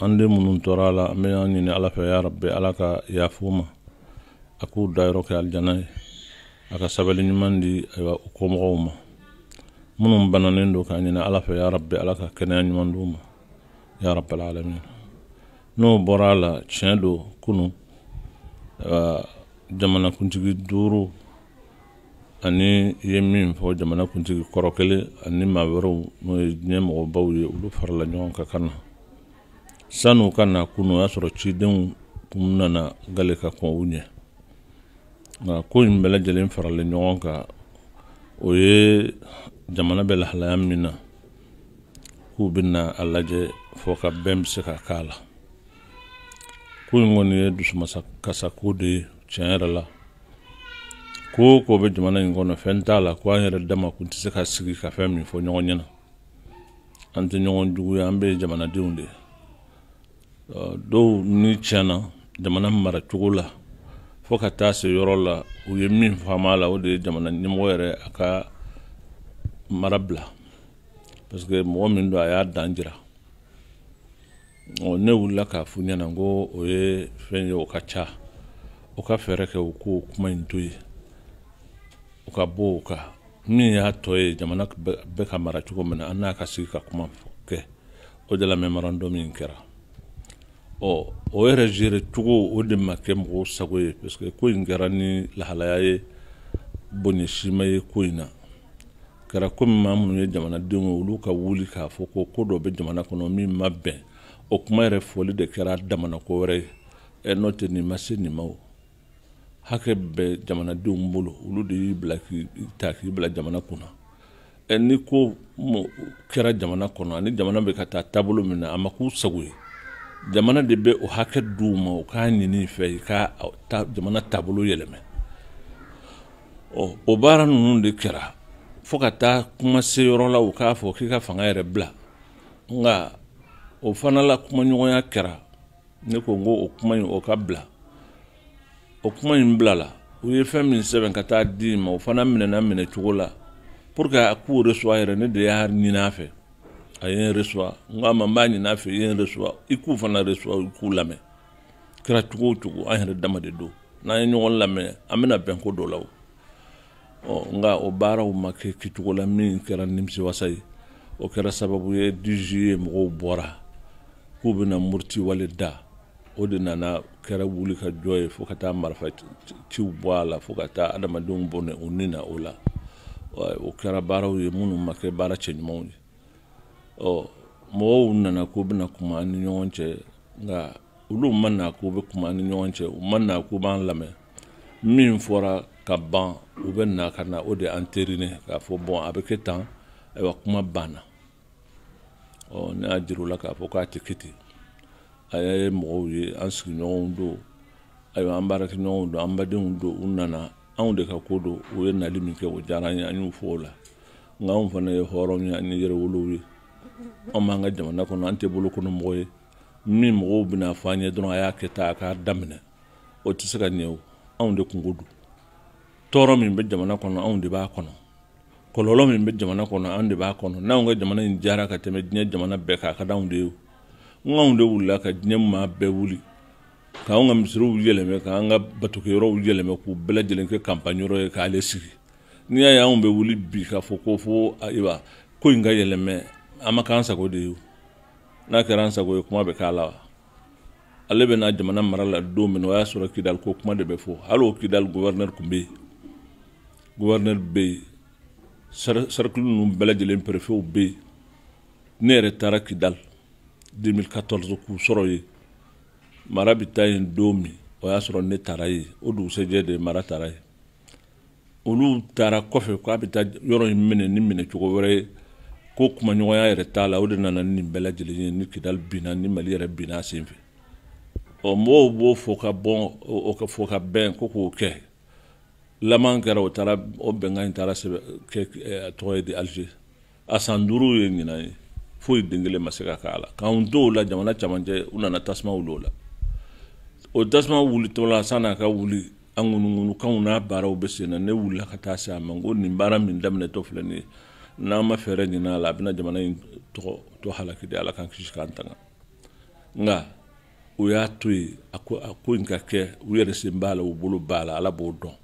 an den minnu tora a la an b'a ɲini ala fɛ ya rabbi ala ka yafa u ma a k'u dayɔrɔ kɛ alijana ye a ka sabali ɲuman di u kɔmɔgɔw ma minnu bananen don k'a ɲini ala fɛ ya rabbi ala ka kɛnɛya ɲuman d'u ma ya rabbi alamin n'o bɔra a la tiɲɛ don kunu jamana kuntigi duuru ani i ye min fɔ jamana kuntigi kɔrɔ kelen ani maa wɛrɛw n'o ye ɲɛmɔgɔbaw ye olu farala ɲɔgɔn kan ka na sani u ka na kunu o y'a sɔrɔ cidenw kun nana gale ka kɔn u ɲɛ nka ko in bɛɛ lajɛlen faralen ɲɔgɔn kan o ye jamana bɛ lahalaya min na k'u bɛna a lajɛ fɔ ka bɛn bɛ se ka k'a la ko in kɔni ye dusumasakasako de ye tiɲɛ yɛrɛ la ko o ko bɛ jamana in kɔnɔ fɛn t'a la ko an yɛrɛ dama kun tɛ se ka sigi ka fɛn min fɔ ɲɔgɔn ɲɛna an tɛ ɲɔgɔn jugu ye an bɛɛ jamanadenw de don ni tiɲɛna jamana mara cogo la fo ka taa se yɔrɔ la u ye min faamu a la o de ye jamana ɲɛmɔgɔ yɛrɛ a ka mara bila parce que mɔgɔ min don a y'a dan jira ne wulila k'a f'u ɲɛna n ko o ye fɛn ye o ka ca u ka fɛɛrɛ kɛ u k'o kuma in to yen u ka bɔ o kan min y'a tɔ ye jamana bɛ ka mara cogo min na an n'a ka sigi ka kuma kɛ o de la mémorandum min kɛra ɔ o yɛrɛ gérer cogo o de ma kɛ mɔgɔw sago ye parce que ko in kɛra ni lahalaya ye bonya si ma ye ko in na kɛra komi maa minnu ye jamanadenw ye olu ka wuli k'a fɔ ko ko dɔ bɛ jamana kɔnɔ min ma bɛn o kuma yɛrɛ fɔli de kɛra dama na ko wɛrɛ ye ɛ n'o tɛ nin ma se nin ma o hakɛ bɛ jamanadenw bolo olu de y'i bila k'i ta k'i bila jamana kunna ɛ ni ko kɛra jamana kɔnɔ ani jamana bɛ ka taa taabolo min na a ma k'u sago ye jamana de bɛ o hakɛ di u ma u k'a ɲini i fɛ i ka jamana taabolo yɛlɛma ɔ o baara ninnu de kɛra fo ka taa kuma se yɔrɔ la u k'a fɔ k'i ka fanga yɛrɛ bila nka o fana la kumaɲɔgɔnya kɛra ne ko n ko o kuma in o ka bila o kuma in bila la u ye fɛn min sɛbɛn ka taa di ma o fana minɛna minɛ cogo la pour que a k'u reçoit yɛrɛ ne de y'a ɲini a fɛ a ye n reçoit n k'a ma n b'a ɲini a fɛ i ye n reçoit i k'u fana reçoit i k'u lamɛn kɛra cogo o cogo an yɛrɛ dama de don n'an ye ɲɔgɔn lamɛn an bɛna bɛn ko dɔ la o ɔ nka o baaraw ma kɛ kɛcogo la min kɛra nimisiwasa ye o kɛra sababu ye dix juillet mɔgɔw bɔra k'u bɛna murti wale da o de nana kɛra wuli ka jɔ ye fo ka taa marifa ciw bɔ a la fo ka taa adamadenw bɔnɛ u ni na o la o kɛra baaraw ye minnu ma kɛ baara cɛ ɲumanw ye ɔ mɔgɔw nana k'u bɛna kuma an ni ɲɔgɔn cɛ nka olu ma na k'u bɛ kuma an ni ɲɔgɔn cɛ u ma na k'u b'an lamɛn min fɔra ka ban u bɛ na ka na o de entériner k'a fɔ bon a bɛ kɛ tan ayiwa kuma banna ɔ ne y'a jira u la k'a fɔ k'a tɛ kɛ ten a ye mɔgɔw ye an sigiɲɔgɔnw don ayiwa an baarakɛɲɔgɔnw don an badenw don u nana anw de ka ko don u ye nali min kɛ o diyara an ye an y'u fo o la nka anw fana ye hɔrɔnw ye ani yɛrɛwolow ye anw b'an ka jamana kɔnɔ an tɛ bolokɔnɔmɔgɔ ye min mɔgɔw bɛna fɔ an ye dɔrɔn a y'a kɛ tan a k'a daminɛ o tɛ se ka ɲɛ o anw de kunko don tɔɔrɔ min bɛ jamana kɔnɔ anw de b'a kɔnɔ kɔlɔlɔ min bɛ jamana kɔnɔ anw de b'a kɔnɔ n'anw ka jamana in diyara ka tɛmɛ diɲɛ jamana bɛɛ kan a ka d'anw de ye nk'anw de wulila ka diɲɛ maa bɛɛ wuli k'anw ka misiriw yɛlɛmɛ k'an ka batokɛyɔrɔw yɛlɛmɛ k'u bɛɛ lajɛlen kɛ campagne yɔrɔ ye k'ale sigi n'i y'a ye anw bɛ wuli bi k'a fɔ ko fo ayiwa ko in ka yɛlɛmɛ an ma k'an sago de ye n'a kɛra an sago ye kuma bɛ k'a la wa ale bɛ na jamana mara la don min o y'a sɔrɔ kidali ko kuma de bɛ fɔ hali o kidali guvɛrinɛri tun bɛ yen guvɛrinɛri bɛ yen sɛrikili ninnu bɛɛ lajɛlen perefew bɛ yen ne yɛrɛ taara kidali 2014 k'u sɔrɔ yen mara bɛ taa yen don min o y'a sɔrɔ ne taara yen o dugusɛjɛ de mara taara yen olu taara kɔfɛ k'a bɛ taa yɔrɔ in minɛ ni minɛ cogo wɛrɛ ye ko kumaɲɔgɔnya yɛrɛ t'a la o de nana ni nin bɛɛ lajɛlen ye ni kidali binna ni mali yɛrɛ binna a sen fɛ ɔ mɔgɔw b'o fɔ ka bon o ka fɔkabɛn ko k'o kɛ laman kɛra o taara o bɛnkan in taara sɛbɛn kɛ a tɔgɔ ye di alize a san duuru ye ɲinan ye foyi den kelen ma se ka k'a la k'an to o la jamana camancɛ u nana tasuma wuli o la o tasuma wulitɔ la sann'a ka wuli a ŋunuŋunukanw n'a baaraw bɛ sen na ne wulila ka taa se a ma n ko nin baara min daminɛtɔ filɛ nin ye n'an ma fɛɛrɛ ɲinin a la a bɛna jamana in tɔgɔ tɔ halaki de ala k'an kisi k'an tanga nka u y'a to yen a ko a ko in ka kɛ u yɛrɛ sen b'a la u bolo b'a la ala b'o dɔn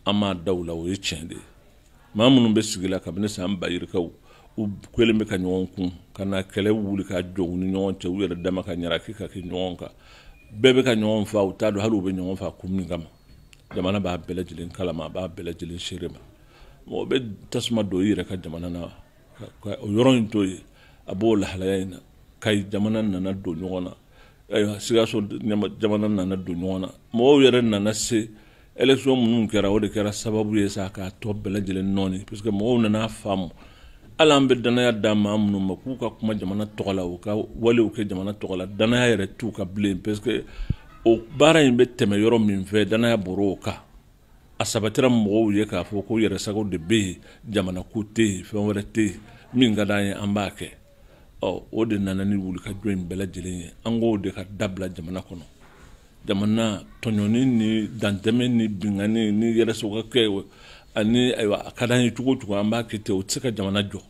an m'a da u la o ye tiɲɛ de ye maa minnu bɛ sigi la kabini san ba yirikaw u kɛlen bɛ ka ɲɔgɔn kun ka na kɛlɛ wuli ka jɔ u ni ɲɔgɔn cɛ u yɛrɛ dama ka ɲara k'i ka kɛ ɲɔgɔn kan bɛɛ bɛ ka ɲɔgɔn fa u t'a dɔn hali u bɛ ɲɔgɔn fa kun min kama jamana b'a bɛɛ lajɛlen kalama a b'a bɛɛ lajɛlen seere ma mɔgɔ bɛ tasuma don i yɛrɛ ka jamana na o yɔrɔ in to yen a b'o lahalaya in na ka jamana nana don ɲɔgɔn na ayiwa sikaso jamana nana don ɲɔgɔn na mɔgɔw yɛrɛ nana se élection minnu kɛra o de kɛra sababu ye sa k'a tɔ bɛɛ lajɛlen nɔɔni parce que mɔgɔw nana faamu hali an bɛ dannaya da maa minnu ma k'u ka kuma jamana tɔgɔ la u ka walew kɛ jamana tɔgɔ la dannaya yɛrɛ t'u kan bilen parce que o baara in bɛ tɛmɛ yɔrɔ min fɛ dannaya bɔr'o kan a sabatira mɔgɔw ye k'a fɔ ko yɛrɛsago de bɛ yen jamana ko tɛ yen fɛn wɛrɛ tɛ yen min ka d'an ye an b'a kɛ ɔ o de nana ni wulikajɔ in bɛɛ lajɛlen ye an k'o de ka dabila jamana kɔnɔ jamana tɔɲɔni ni dantɛmɛ ni binkanni ni yɛrɛsagokɛ ani ayiwa a ka d'an ye cogo o cogo an b'a kɛ ten o tɛ se ka jamana jɔ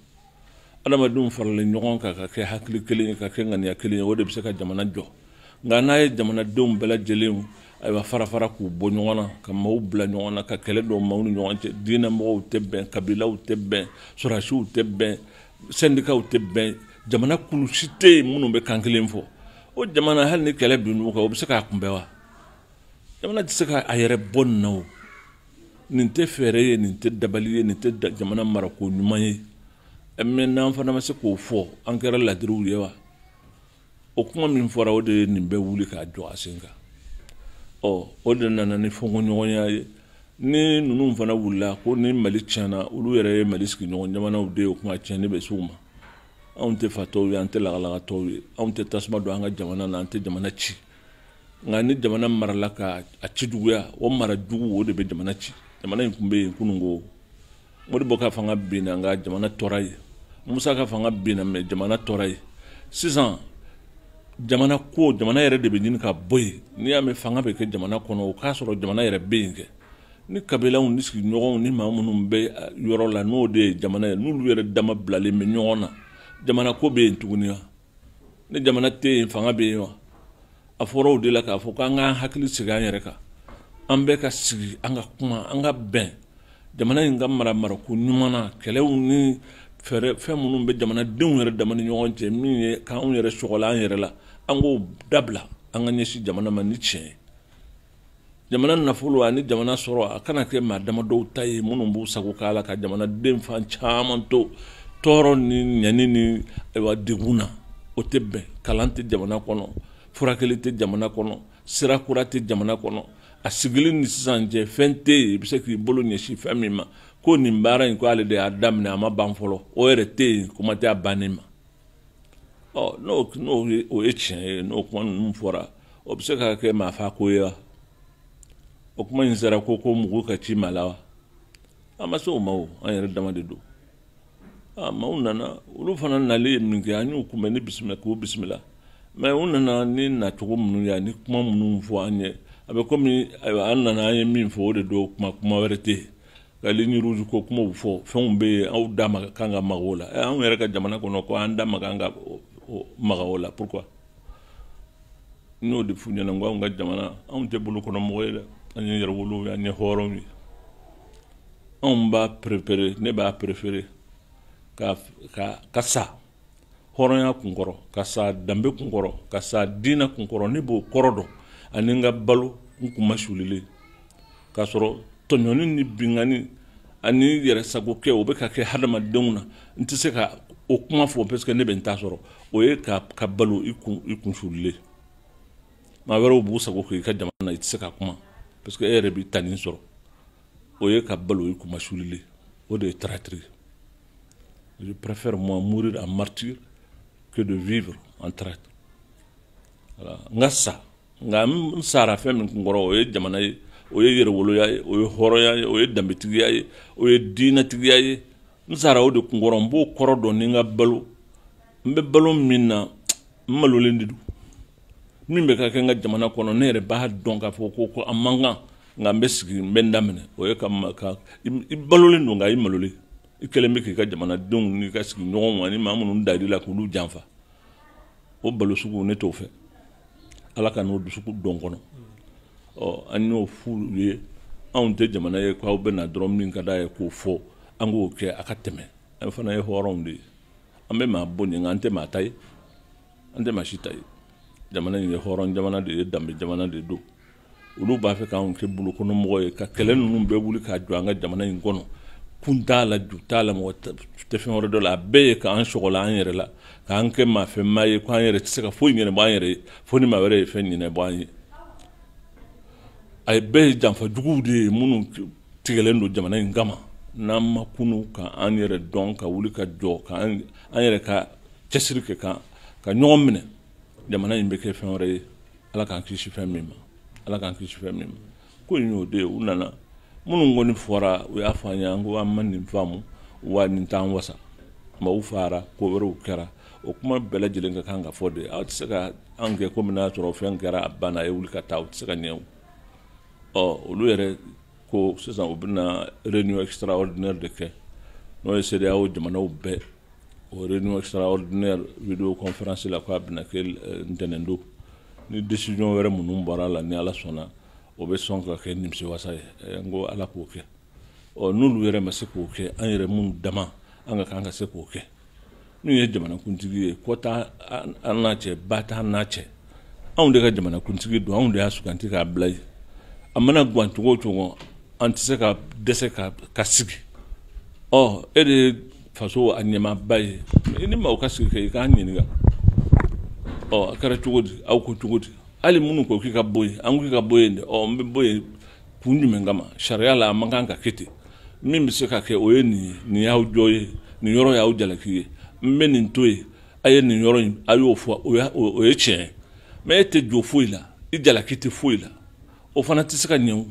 adamadenw faralen ɲɔgɔn kan ka kɛ hakili kelen ye ka kɛ ŋaniya kelen ye o de bɛ se ka jamana jɔ nka n'a ye jamanadenw bɛɛ lajɛlen ayiwa fara fara k'u bɔ ɲɔgɔn na ka maaw bila ɲɔgɔn na ka kɛlɛ don maaw ni ɲɔgɔn cɛ diinɛ mɔgɔw tɛ bɛn kabilaw tɛ bɛn sɔrɔdasiw tɛ bɛn sɛndikaw tɛ bɛn jamana kulu si tɛ yen minnu bɛ kan kelen fɔ o jamana hali ni kɛlɛ binn'u kan o bɛ se k'a kunbɛn wa jamana tɛ se k'a yɛrɛ bɔ nin na o nin tɛ fɛɛrɛ ye nin tɛ dabali ye nin tɛ jamana marako ɲuman ye mɛ n'an fana ma se k'o fɔ an kɛra ladiriw ye wa o kuma min fɔra o de ye nin bɛɛ wuli k'a jɔ a sen kan ɔ o de nana ni fɔnkɔɲɔgɔnya ye ni ninnu fana wulila ko ni mali tiɲɛna olu yɛrɛ ye mali sigiɲɔgɔn jamanaw de ye o kuma tiɲɛni bɛ s'u ma anw tɛ fatɔw ye an tɛ lagalagatɔw ye anw tɛ tasuma don an ka jamana na an tɛ jamana ci nka ni jamana marala ka a ci juguya o mara jugu o de bɛ jamana ci jamana in tun bɛ yen kunun ko modibo ka fanga binna nka jamana tora yen musa ka fanga binna mɛ jamana tora yen sisan jamana ko jamana yɛrɛ de bɛ ɲini ka bɔ yen n'i y'a mɛn fanga bɛ kɛ jamana kɔnɔ o k'a sɔrɔ jamana yɛrɛ bɛ yen kɛ ni kabilaw ni sigiɲɔgɔnw ni maa minnu bɛ yɔrɔ la n'o de ye jamana ye n'olu yɛrɛ dama bilalen bɛ ɲɔgɔn na jamana ko bɛ yen tuguni wa ni jamana tɛ yen fanga bɛ yen wa a fɔra o de la k'a fɔ k'an k'an hakili sigi an yɛrɛ kan an bɛɛ ka sigi an ka kuma an ka bɛn jamana in ka mara marako ɲuman na kɛlɛw ni fɛɛrɛ fɛn minnu bɛ jamanadenw yɛrɛ dama ni ɲɔgɔn cɛ min ye k'anw yɛrɛ sɔgɔla an yɛrɛ la an k'o dabila an ka ɲɛsin jamana ma ni tiɲɛ ye jamana nafolo ani jamana sɔrɔ a kana kɛ maa damadɔw ta ye minnu b'u sago k'a la ka jamanaden fan caman to tɔɔrɔ ni ɲani ni ayiwa degun na o tɛ bɛn kalan tɛ jamana kɔnɔ furakɛli tɛ jamana kɔnɔ sira kura tɛ jamana kɔnɔ a sigili ni sisan cɛ fɛn tɛ yen i bɛ se k'i bolo ɲɛsin fɛn min ma ko nin baara in ko ale de y'a daminɛ a ma ban fɔlɔ o yɛrɛ tɛ yen kuma tɛ a bannen ma n'o o ye tiɲɛ ye n'o kuma ninnu fɔra o bɛ se ka kɛ maa fa ko ye wa o kuma in sera ko ko mugu ka ci maa la wa an ma se o ma o an yɛrɛ dama de don aa maaw nana olu fana nalen ye min kɛ an y'u kunbɛn ni bisimila k'u bisimila mɛ u nana ni nacogo minnu ye ani kuma minnu fɔ an ye a bɛ komi ayiwa an nana an ye min fɔ o de don kuma kuma wɛrɛ tɛ yen ka ligne rouge ko kumaw fɔ fɛnw bɛ yen aw da man kan ka maga o la eh, anw yɛrɛ ka jamana kɔnɔ ko an da man kan ka maga o la pourquoi n y'o de f'u ɲɛna n ko anw ka jamana anw tɛ bolokɔnɔmɔgɔ ye dɛ an ye yɛrɛwolow ye an ye hɔrɔnw ye anw b'a préféré ne b'a préféré ka ka ka sa hɔrɔnya kunkɔrɔ ka sa danbe kunkɔrɔ ka sa diinɛ kunkɔrɔ ne b'o kɔrɔdon ani n ka balo n kunmasulilen k'a sɔrɔ tɔɲɔni ni binkanni ani yɛrɛ sago kɛ o bɛ ka kɛ hadamadenw na n tɛ se ka o kuma fɔ parce que ne bɛ n ta sɔrɔ o ye ka ka balo i kun i kun sulilen maa wɛrɛw b'u sago kɛ i ka jamana na i tɛ se ka kuma parce que e yɛrɛ b'i ta nin sɔrɔ o ye ka balo i kunmasulilen o de ye traîtrise ye Je préfère moi mourir en martyr que de vivre en traître. Voilà. N ka sa, nka n sara fɛn min kunkɔrɔ o ye jamana ye, o ye yɛrɛwoloya ye, o ye hɔrɔnya ye, o ye danbetigiya ye, o ye diinɛtigiya ye. N sara o de kunkɔrɔ, n b'o kɔrɔdon ni n ka balo. N bɛ balo min na, n malolen de don. min bɛ ka kɛ n ka jamana kɔnɔ ne yɛrɛ b'a dɔn k'a fɔ ko ko a man kan nka n bɛ sigi n bɛ n da minɛ o ye ka ka i balolen don nka i malolen i kɛlen bɛ k'i ka jamanadenw n'i ka sigiɲɔgɔnw ani maa minnu da i la k'olu janfa o balo sugu ne t'o fɛ ala kan'o dusukun don n kɔnɔ ɔ an y'o f'u ye anw tɛ jamana ye k'aw bɛ na dɔrɔn min ka d'a ye k'o fɔ an k'o kɛ a ka tɛmɛ an fana ye hɔrɔnw de ye an bɛ maa bonya nka an tɛ maa ta ye an tɛ maa si ta ye jamana in ye hɔrɔn jamana de ye danbe jamana de don olu b'a fɛ k'an kɛ bolokɔnɔmɔgɔ ye ka kɛlɛ ninnu bɛɛ wuli k'a jɔ an ka jamana in kɔnɔ kun t'a la ju t'a la mɔgɔ tɛ fɛn wɛrɛ dɔn a la a bɛɛ ye k'an sɔgɔla an yɛrɛ la k'an kɛ maafɛmaa ye k'an yɛrɛ tɛ se ka foyi ɲɛnab'an yɛrɛ ye fo ni maa wɛrɛ ye fɛn ɲɛnab'an ye a bɛɛ ye janfa juguw de ye minnu tigɛlen don jamana in kama n'an ma kunun ka an yɛrɛ dɔn ka wuli ka jɔ ka an yɛrɛ ka cɛsiri kɛ k'an ka ɲɔgɔn minɛ jamana in bɛ kɛ fɛn wɛrɛ ye ala k'an kisi fɛn min ma ala k'an kisi fɛn min ma ko in y'o de ye u nana minnu kɔni fɔra u y'a fɔ an ye an ko an ma nin faamu wa nin t'an wasa maaw faara ko wɛrɛw kɛra o kuma bɛɛ lajɛlen ka kan ka fɔ dɛ aw tɛ se ka an kɛ komi n'a sɔrɔ fɛn kɛra a banna a ye wuli ka taa o tɛ se ka ɲɛ ɔ olu yɛrɛ ko sisan u bɛna réunion extraordinaire de kɛ n'o ye CEDEAO jamanaw bɛɛ o réunion extraordinaire vidéo conférence la k'a bɛna kɛ euh, ntɛnɛndon ni décision wɛrɛ minnu bɔra a la ni ala sɔnna o bɛ sɔn ka kɛ nimisiwasa ye eh, n ko ala k'o kɛ ɔ n'olu yɛrɛ ma se k'o kɛ an yɛrɛ minnu dama an ka kan ka se k'o kɛ nin ye jamanakuntigi ye kɔ t'an n'a cɛ ba t'an n'a cɛ anw de ka jamanakuntigi don anw de y'a suganti k'a bila yen a mana gan cogo o cogo an tɛ se ka dɛsɛ ka ka sigi ɔ e de ye faso a ɲɛmaaba ye i ni maaw ka sigi kɛ i k'an ɲininka ɔ a kɛra cogo di aw ko cogo di hali minnu ko k'i ka bɔ yen an k'i ka bɔ yen dɛ ɔ n bɛ bɔ yen kun jumɛn kama sariya la a man kan ka kɛ ten min bɛ se ka kɛ o ye nin ye nin y'aw jo ye nin yɔrɔ y'aw jalaki ye n bɛ nin to yen a ye nin yɔrɔ in a y'o fɔ o ye tiɲɛ ye mɛ e tɛ jo foyi la i jalaki tɛ foyi la o fana tɛ se ka ɲɛ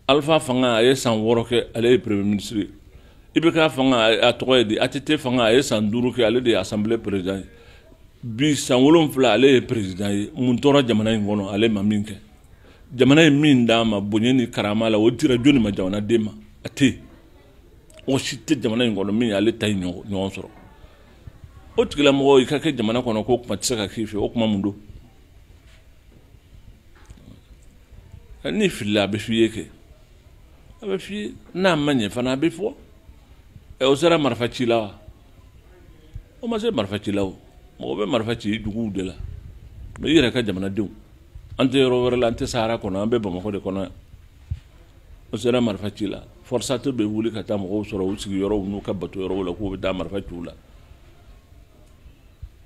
alifa fanga a ye san wɔɔrɔ kɛ ale ye premier ministre ye ibk fanga a tɔgɔ ye di att fanga a ye san duuru kɛ ale de ye assemblée président ye bi san wolonfila ale ye président ye mun tora jamana in kɔnɔ ale ma min kɛ jamana ye min d'a ma bonya ni karama la o dira joni ma jamanaden ma a tɛ yen mɔgɔ si tɛ jamana in kɔnɔ min ale ta in ɲɔgɔn sɔrɔ o tigilamɔgɔ i ka kɛ jamana kɔnɔ ko kuma tɛ se ka k'i fɛ o kuma mun don n'i filila a bɛ f'i ye kɛ a bɛ f'i ye n'a ma ɲɛ fana a bɛ fɔ ɛ o sera marifa ci la wa o ma se marifa ci la o mɔgɔ bɛ marifa ci juguw de la mɛ i yɛrɛ ka jamanadenw an tɛ yɔrɔ wɛrɛ la an tɛ sahara kɔnɔ an bɛ bamakɔ de kɔnɔ yan o sera marifa ci la forsat bɛ wuli ka taa mɔgɔw sɔrɔ u sigiyɔrɔw n'u ka batoyɔrɔw la k'u bɛ taa marifa ci u la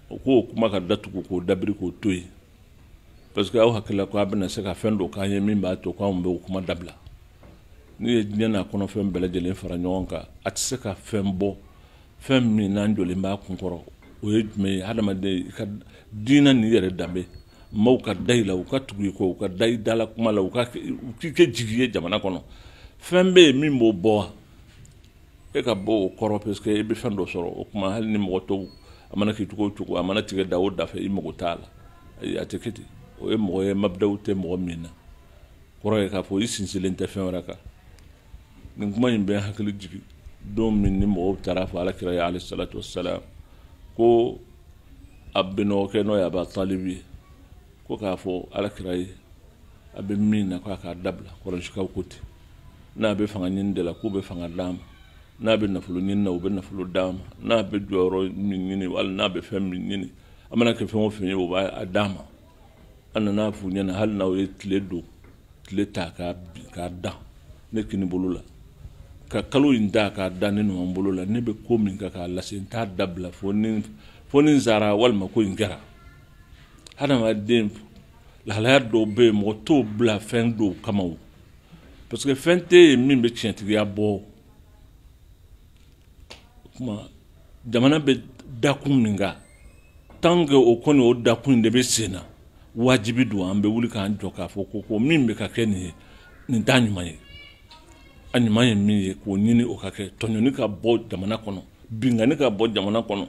o k'o kuma ka datugu k'o dabiri k'o to yen parce que aw hakilila ko a bɛna se ka fɛn dɔ k'an ye min b'a to k'anw bɛ o kuma dabila n'i ye diɲɛ n'a kɔnɔfɛn bɛɛ lajɛlen fara ɲɔgɔn kan a tɛ se ka fɛn bɔ fɛn min n'an jɔlen b'a kun kɔrɔ o ye jumɛn ye hadamaden i ka diinɛ n'i yɛrɛ danbe maaw ka da i la u ka tugu i kɔ u ka da i dala kuma la u k'i kɛ jigi ye jamana kɔnɔ fɛn bɛ yen min b'o bɔ wa e ka bɔ o kɔrɔ parce que e bɛ fɛn dɔ sɔrɔ o tuma hali ni mɔgɔ tɔw a mana kɛ cogo o cogo a mana tigɛ da o da fɛ i mago t'a la ayi a tɛ kɛ ten o ye mɔgɔ ye mabidaw tɛ mɔgɔ min na kɔrɔ ye k'a fɔ i sinsinlen tɛ fɛn wɛrɛ kan nin kuma in bɛ hakili jigin don min ni mɔgɔw taara fɔ ala kira ye alayhi salatu wassalam ko a binɔgɔkɛ n'o ye aba talibi ye ko k'a fɔ ala kira ye a bɛ min na k'a k'a dabila kurayisikaw ko ten n'a bɛ fanga ɲini de la k'u bɛ fanga d'a ma n'a bɛ nafolo ɲini na u bɛ nafolo d'a ma n'a bɛ jɔyɔrɔ min ɲini wali n'a bɛ fɛn min ɲini a mana kɛ fɛn o fɛn ye u b'a d'a ma a nana f'u ɲɛna hali n'aw ye tile don tile ta k'a bin k'a da ne kini bolo la ka kalo in ta k'a da ne numan bolo la ne bɛ ko min kan k'a lase n t'a dabila fo ni fo ni n sara walima ko in kɛra hadamaden lahalaya dɔw bɛ yen mɔgɔ t'o bila fɛn dɔw kama o parce que fɛn tɛ yen min bɛ tiɲɛtigiya bɔ o tuma jamana bɛ dakun min kan tant que o kɔni o dakun de bɛ sen na wajibi don an bɛ wuli k'an jɔ k'a fɔ ko ko min bɛ ka kɛ nin ye nin t'a ɲuman ye a ɲuman ye min ye k'o ɲini o ka kɛ tɔɲɔni ka bɔ jamana kɔnɔ binkanni ka bɔ jamana kɔnɔ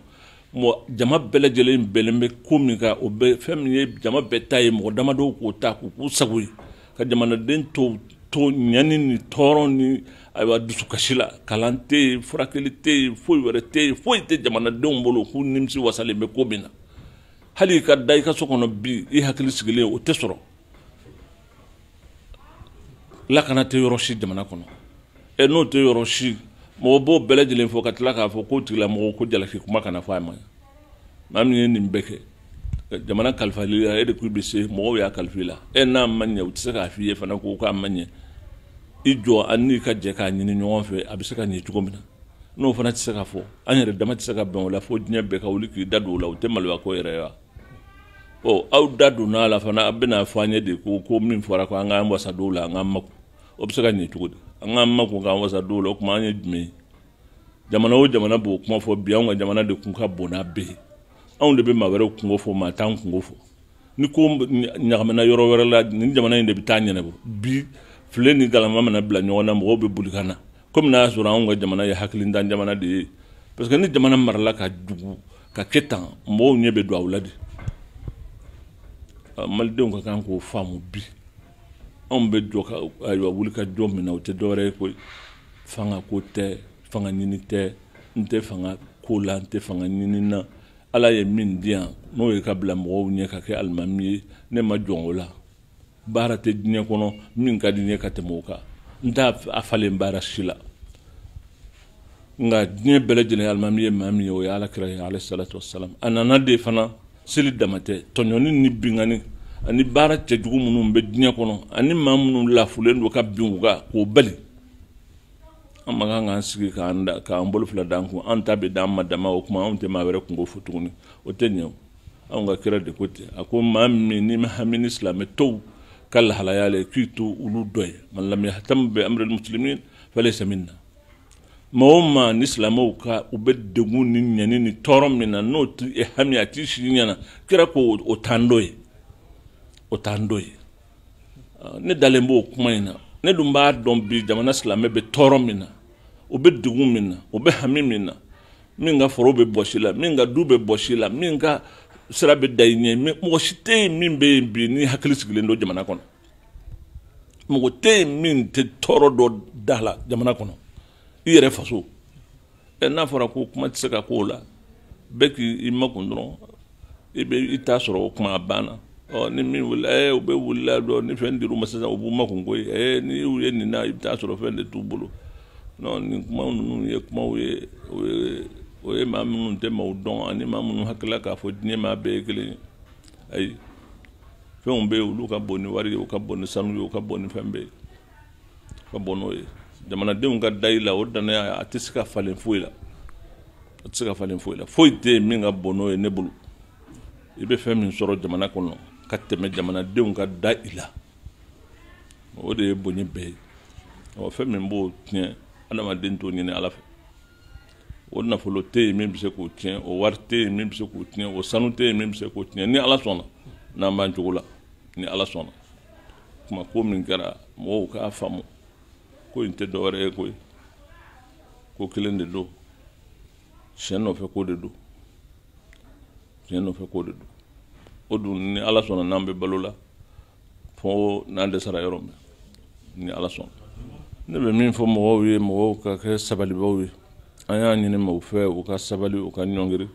jama bɛɛ lajɛlen bɛnlen bɛ ko min kan o bɛ fɛn min ye jama bɛɛ ta ye mɔgɔ damadɔw k'o ta k'o k'u sago ye ka jamanaden tɔ to ɲani ni tɔɔrɔ ni ayiwa dusukasi la kalan tɛ yen furakɛli tɛ yen foyi wɛrɛ tɛ yen foyi tɛ jamanadenw bolo k'u nimisi wasalen bɛ ko min na hali i ka da i ka so kɔnɔ bi i hakili sigilen o tɛ sɔrɔ lakana tɛ yɔrɔ si jamana kɔnɔ ɛ n'o tɛ yɔrɔ si mɔgɔ b'o bɛɛ lajɛlen fɔ ka tila k'a fɔ k'o tigilamɔgɔ ko jalaki kuma kana fɔ a ma maa min ye nin bɛɛ kɛ jamana kalifal'i la e de k'i bɛ se mɔgɔw y'a kalif'i la e n'a ma ɲɛ u tɛ se k'a f'i ye fana ko k'a ma ɲɛ i jɔ an n'i ka jɛ k'a ɲini ɲɔgɔn fɛ a bɛ se ka ɲɛ cogo min na n'o fana tɛ se ka fɔ an yɛrɛ dama tɛ se ka bɛn o la fo diɲɛ bɛɛ ka wuli k'i da don o la o tɛ maloya ko yɛrɛ ye wa ɔ aw da donna a la fana a bɛna fɔ an ye de ko ko min fɔra ko an k'an wasa don o la an k'an makun o bɛ se ka ɲɛ cogo di an k'an makun k'an wasa don o la o tuma an ye jumɛn ye jamana o jamana b'o kuma fɔ bi anw ka jamana de kun ka bon n'a bɛɛ ye anw de bɛ maa wɛrɛw kunko fɔ maa t'an kunko fɔ ni ko ɲagamina yɔrɔ wɛrɛ la nin jamana in de bɛ taa a ɲɛnabɔ bi filen ni galama mana bila ɲɔgɔn na mɔgɔw bɛ boli ka na kɔmi n'a y'a sɔrɔ anw ka jamana ye hakilintan jamana de ye parce que ni jamana marala ka jugu ka kɛ tan mɔgɔw ɲɛ bɛ don aw la de malidenw ka kan k'o faamu bi anw bɛ jɔ ka ayiwa wuli ka jɔ min na o tɛ dɔwɛrɛ ye koyi fanga ko tɛ fanga ɲini tɛ n tɛ fanga ko la n tɛ fanga ɲini na ala ye min di yan n'o ye ka bila mɔgɔw ɲɛ ka kɛ alimami ye ne ma jɔn o la baara tɛ diɲɛ kɔnɔ min ka di n ye ka tɛmɛ o kan n t'a falen baara si la nka diɲɛ bɛɛ lajɛlen alimami ye maa min ye o ye ala kira ye alayhi salatu wasalam a nana de fana seli dama tɛ tɔɲɔni ni binkanni ani baara cɛjugu minnu bɛ diɲɛ kɔnɔ ani maa minnu lafulen don ka bin u kan k'o bali an man kan k'an sigi k'an da k'an bolo fila d'an kun an ta bɛ d'an ma dama o tuma anw tɛ maa wɛrɛ kunko fɔ tuguni o tɛ ɲɛ o anw ka kira de ko ten a ko maa min n'i ma hami ni silamɛ tɔw ka lahalaya la k'i t'olu dɔ ye man lam yahtam bi amri muslimin falaysa minna maa o maa ni silamɛw ka u bɛ degun ni ɲani ni tɔɔrɔ min na n'o tɛ e hami a t'i sigi ɲɛna kira ko o t'an dɔ ye o t'an dɔ ye ne dalen b'o kuma in na ne dun b'a dɔn bi jamana silamɛ bɛ tɔɔrɔ min na u bɛ degun min na u bɛ hami min na min ka foro bɛ bɔsi la min ka du bɛ bɔsi la min ka sira bɛ da i ɲɛ mɛ mɔgɔ si tɛ yen min bɛ yen bi n'i hakili sigilen don jamana kɔnɔ mɔgɔ tɛ yen min tɛ tɔɔrɔ dɔ da la jamana kɔnɔ i yɛrɛ faso ɛ n'a fɔra ko kuma tɛ se ka k'o la bɛɛ k'i makun dɔrɔn i bɛ i t'a sɔrɔ o kuma a banna ɔ ni min wulila ɛɛ u bɛ wulila dɔ ni fɛn dir'u ma sisan u b'u makun koyi ɛɛ n'i y'u ye nin na i bɛ t'a sɔrɔ fɛn de t'u bolo non nin kuma ninnu ye kumaw ye o ye o ye maa minnu tɛ maaw dɔn ani maa minnu hakilila k'a fɔ diɲɛ maa bɛɛ ye kelen ye ayi fɛnw bɛ yen olu ka bon ni wari ye u ka bon ni sanu ye u ka bon ni fɛn bɛɛ ye ka bon n'o ye jamanadenw ka da i la o danaya a tɛ se ka falen foyi la a tɛ se ka falen foyi la foyi tɛ yen min ka bon n'o ye ne bolo i bɛ fɛn min sɔrɔ jamana kɔnɔ ka tɛmɛ jamanadenw ka da i la o de ye bonya bɛɛ ye ɔ fɛn min b'o tiɲɛ adamaden t'o ɲini ala fɛ o nafolo tɛ yen min bɛ se k'o tiɲɛ o wari tɛ yen min bɛ se k'o tiɲɛ o sanu tɛ yen min bɛ se k'o tiɲɛ ni ala sɔnna n'an b'an cogo la ni ala sɔnna kuma ko min kɛra mɔgɔw k'a faamu ko in tɛ dɔwɛrɛ ye koyi ko kelen de don tiɲɛ nɔfɛ ko de don tiɲɛ nɔfɛ ko de don o dun ni ala sɔnna n'an bɛ balo la fo n'an dɛsɛra yɔrɔ min ni ala sɔnna ne bɛ min fɔ mɔgɔw ye mɔgɔw ka kɛ sabalibaw ye an y'a ɲini mɔgɔw fɛ u ka sabali u ka ɲɔngiri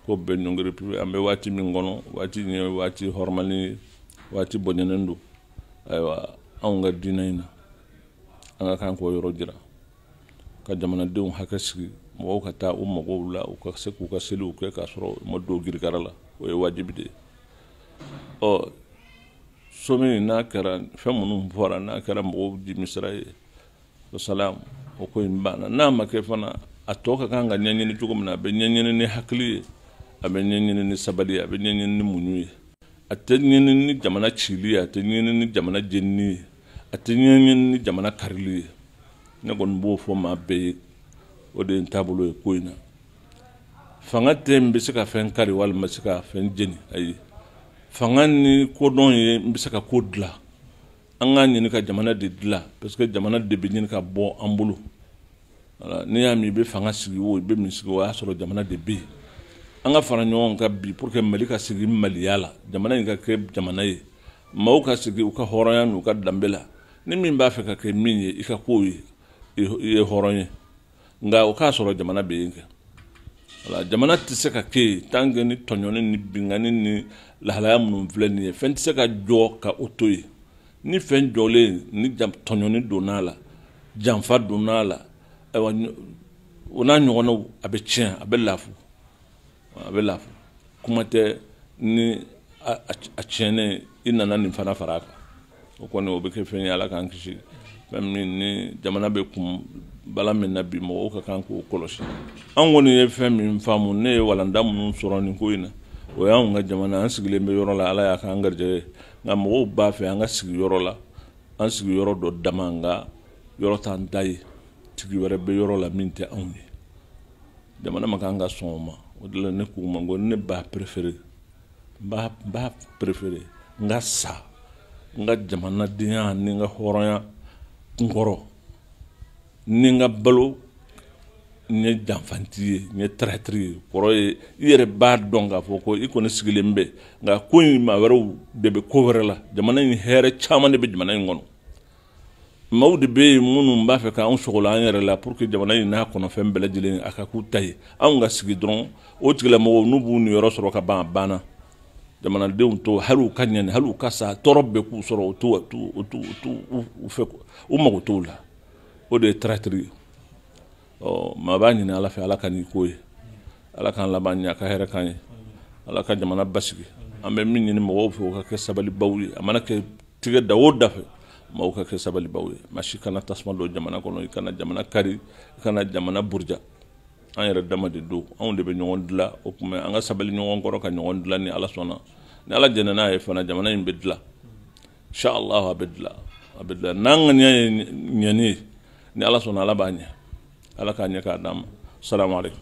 ko bɛɛ ɲɔngiri pewu an bɛ waati min kɔnɔ waati nin ye waati hɔrɔmalen ye waati bonyalen don ayiwa anw ka diinɛ in na an ka kan k'o yɔrɔ jira ka jamanadenw hakili sigi mɔgɔw ka taa u magow la u ka se k'u ka seliw kɛ k'a sɔrɔ u ma don girigara la o ye wajibi de ye ɔ somi n'a kɛra fɛn minnu fɔra n'a kɛra mɔgɔw dimisira ye o salamu o ko in banna n'a ma kɛ fana a tɔ ka kan ka ɲɛɲini cogo min na a bɛ ɲɛɲini ni hakili ye a bɛ ɲɛɲini ni sabali ye a bɛ ɲɛɲini ni muɲu ye a tɛ ɲɛɲini ni jamana cili ye a tɛ ɲɛɲini ni jamana jenini ye a tɛ ɲɛɲini ni jamana karili ye ne kɔni b'o fɔ maa bɛɛ ye o de ye n taabolo ye ko in na fanga tɛ n bɛ se ka fɛn kari walima se ka fɛn jeni ayi fanga ni kodɔn ye n bɛ se ka ko dilan an k'a ɲini ka jamana de dilan parce que jamana de bɛ ɲini ka bɔ an bolo voilà n'i y'a mɛn i bɛ fanga sigi o i bɛ min sigi o y'a sɔrɔ jamana de bɛ yen an ka fara ɲɔgɔn kan bi pour que mali ka sigi maliya la jamana in ka kɛ jamana ye maaw ka sigi u ka hɔrɔnya n'u ka danbe la ni min b'a fɛ ka kɛ min ye i ka k'o ye i ye hɔrɔn ye nka o k'a sɔrɔ jamana bɛ yen kɛ wala jamana tɛ se ka kɛ yen tant que ni tɔɲɔni ni binkanni ni lahalaya minnu filɛ nin ye fɛn tɛ se ka jɔ ka o to yen ni fɛn jɔlen ni tɔɲɔni donna a la janfa donna a la ayiwa o n'a ɲɔgɔnnaw a bɛ tiɲɛ a bɛ lafu a bɛ lafu kuma tɛ ni a tiɲɛnen i nana nin fana fara a kan o kɔni o bɛ kɛ fɛn ye ala k'an kisi fɛn min ni jamana bɛ kun bala min na bi mɔgɔw ka kan k'o kɔlɔsi an kɔni ye fɛn min faamu ne ye walanda minnu sɔrɔ nin ko in na o y'an ka jamana an sigilen bɛ yɔrɔ la ala y'a k'an garijɛgɛ ye nka mɔgɔw b'a fɛ an ka sigi yɔrɔ la an sigi yɔrɔ dɔ dama nka yɔrɔ t'an ta ye tigi wɛrɛ bɛ yɔrɔ la min tɛ anw ye jamana ma kan ka sɔn o ma o de la ne k'u ma ko ne b'a préféré n b'a n b'a préféré n ka sa n ka jamanadenya ni n ka hɔrɔnya kunkɔrɔ ni n ka balo n ye janfanti ye n ye traître ye kɔrɔ ye i yɛrɛ b'a dɔn k'a fɔ ko i kɔni sigilen bɛ nka ko in maa wɛrɛw de bɛ ko wɛrɛ la jamana in hɛrɛ caman de bɛ jamana in kɔnɔ maaw de bɛ yen minnu b'a fɛ k'an sogola an yɛrɛ la pour que jamana in n'a kɔnɔfɛn bɛɛ lajɛlen a ka k'u ta ye anw ka sigi dɔrɔn o tigilamɔgɔw n'u b'u niyɔrɔ sɔrɔ ka ban a banna jamanadenw to hali u ka ɲani hali u ka sa tɔɔrɔ bɛɛ k'u sɔrɔ u t'u u t'u u t'u u fɛ u mago t'o la o de ye traître ye ɔ maa b'a ɲini ala fɛ ala k'a nɔgɔya ala k'an laban ɲɛ a ka hɛrɛ k'an ye ala ka jamana basigi an bɛ min ɲini mɔgɔw fɛ u ka kɛ sabalibaw ye a mana kɛ tigɛ da o da fɛ mɔgɔw ka kɛ sabalibaw ye maa si kana tasuma don jamana kɔnɔ i kana jamana kari i kana jamana buruja an yɛrɛ dama de don anw de bɛ ɲɔgɔn dila o tuma an ka sabali ɲɔgɔn kɔrɔ ka ɲɔgɔn dila ni ala sɔnna ni ala jɛnna n'a ye fana jamana in bɛ dila Sha Allah a bɛ dilan a bɛ dilan n'an ŋaniya ye ɲɛni ye ni Ala sɔnna Ala b'a ɲɛ Ala k'a ɲɛ k'a d'an ma salamu aleykum